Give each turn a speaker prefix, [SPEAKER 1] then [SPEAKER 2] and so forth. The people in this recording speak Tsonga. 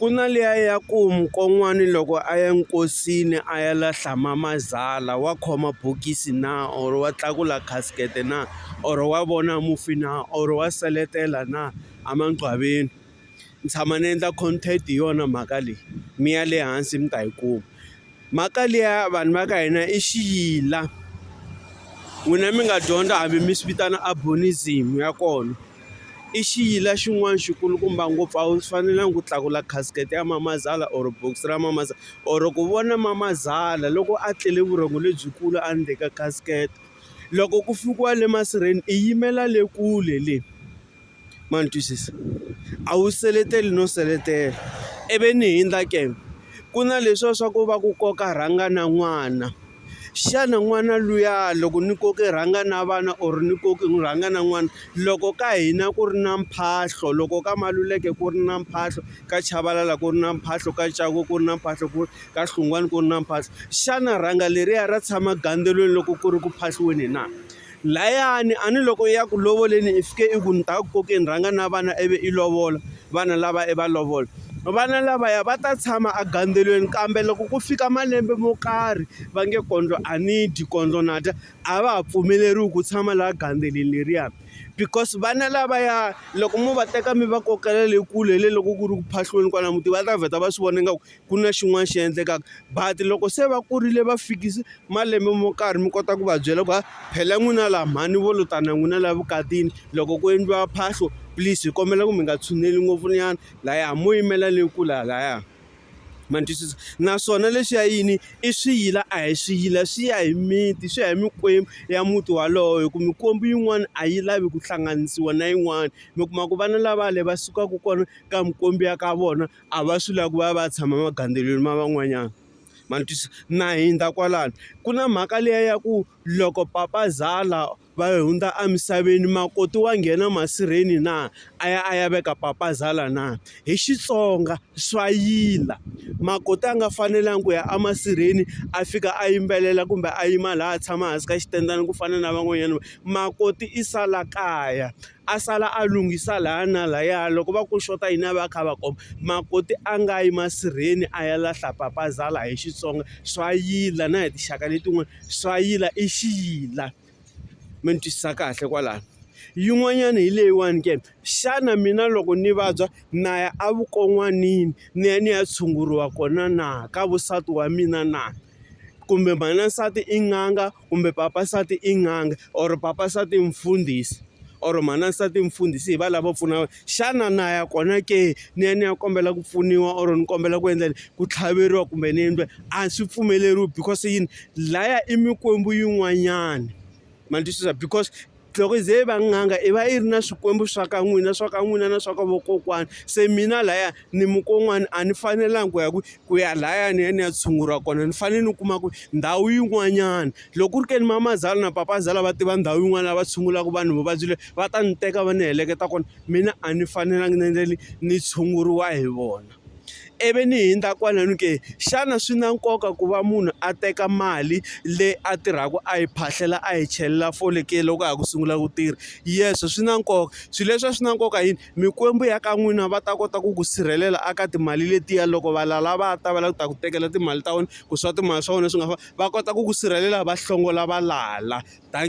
[SPEAKER 1] Ku na liya ya ku mukon'wani loko a ya nkosini a ya lahla mama zala wa khoma bokisi na or wa tlakula casket na or wa vona mufi na or wa seletela na a mangcwabeni ni tshama ni endla content hi yona mhaka leyi mi ya le hansi mi ta yi kuma. Mhaka liya vanhu va ka hina i xiyila n'wina mi nga dyondza hambi mi swi vitana abonism ya kona i xiyila xin'wana xi kulukumba ngopfu a wu fanelangi ku tlakula casket ya mamazala or bokisi ra mamazala or ku vona mamazala loko a tlele vurhongo lebyikulu a ndzeni ka casket loko ku fikiwa le masirheni i yimela le kule le. ma ni twisisa a wu seleteli no seletela i vi ni hundza ke ku na leswiya swa ku va ku koka rhanga na n'wana xana n'wana luya loko ni koke rhanga na vana or ni koke ni rhanga na n'wana loko ka hina ku ri na mphahlo loko ka maluleke ku ri na mphahlo ka chavalala ku ri na mphahlo ka ncaku ku ri na mphahlo ku ka hlungwani ku ri na mphahlo xana rhanga leriya ra tshama gandzelweni loko ku ri ku phahliweni na Layani, a ni loko i ya ku lovoleni i fike i ku ni ta ku kokeni rhanga na vana ivi i lovola vana lava i va lovola vana lavaya va ta tshama agandzelweni kambe loko ku fika malembe mo karhi va nge kondlo a ni dyi kondlo na dya a va ha pfumeleriwi ku tshama laha gandzeleni leriya because vana lavaya loko mo va teka mi va kokela le kule hi le loko ku ri ku phahlweni kwala muti va ta vheta va swi vona ingaku ku na xin'wana xi endlekaka but loko se va kurile va fikise malembe mo karhi mi kota ku va byela ku ha phela n'wina laha mhani vo lo tana n'wina laha vukatini loko ku endliwa phahlo please hi kombela ku mi nga tshuneli ngopfu nyana laya mo yimela leyi kula laya ma ni twisisa naswona lexi ya yini i swiyila a hi swiyila swi ya hi miti swi ya hi mikwembu ya muti walowo hi ku mikwembu yin'wana a yi lavi ku hlanganisiwa na yin'wana mi kuma ku vana lavale va sukaka kona ka mikwembu ya ka vona a va swi lavi ku va va tshama magandzelo ma van'wanyana ma ni twisisa na hundza kwalano ku na mhaka liya ya ku loko papazala va hundza emisaveni makoti wa nghena masirheni na a ya a ya veka papazala na hi Xitsonga swa yila makoti a nga fanelangi ku ya emasirheni a fika a yimbelela kumbe a yima laha a tshama hansi ka xitendana ku fana na van'wanyana makoti i sala kaya. a sala a lunghisa laha na lahaya loko va ku xota yini a va a kha a va komba makoti a nga yi masirheni a ya lahla papazala hi Xitsonga swa yila na hi tinxaka letin'wana swa yila i xiyila mi ni twisisa kahle kwalano yin'wanyana hi leyiwani ke xana mina loko ni vabya na ya a vukon'wanini ni ya ni ya tshunguriwa kona na ka vusati wa mina na kumbe mhana nsati i n'anga kumbe papa nsati i n'anga or papa nsati i mfundhisi or mhana nsati i mfundhisi hi va lava pfunaka xana na ya kona ke ni ya ni ya kombela ku pfuniwa or ni kombela ku endla ku tlhaveriwa kumbe ni endla a swi pfumeleriwi because yini laya i mikwembu yin'wanyani ma ni twisisa because loko yi ze yi va n'anga i va yi ri na swikwembu swa ka n'wina swa ka n'wina na swa ka vokokwana se mina laya ni mukon'wana a ni fanelanga ku ya ku ku ya laya ni ya ni ya tshunguriwa kona ni fanele ni kuma ku ndhawu yin'wanyana loko ku ri ke ni mamazala na papazala va tiva ndhawu yin'wana lava tshungulaka vanhu vuvabyi le va ta ni teka va ni heleketa kona mina a ni fanelanga ni ni tshunguriwa hi vona ivi ni hundza kwala ni ku xana swi na nkoka ku va munhu a teka mali leyi a tirhaka a yi phahlela a yi chelela fole ke loko a ha ku sungula ku tirha yes swi na nkoka swilo leswi a swi na nkoka yini mikwembu ya ka n'wina va ta kota ku ku sirhelela aka timali letiya loko va lala va ta va lava ku ta ku tekela timali ta wena ku swa timali swa wena swi nga fa va kota ku ku sirhelela va hlongola valala than.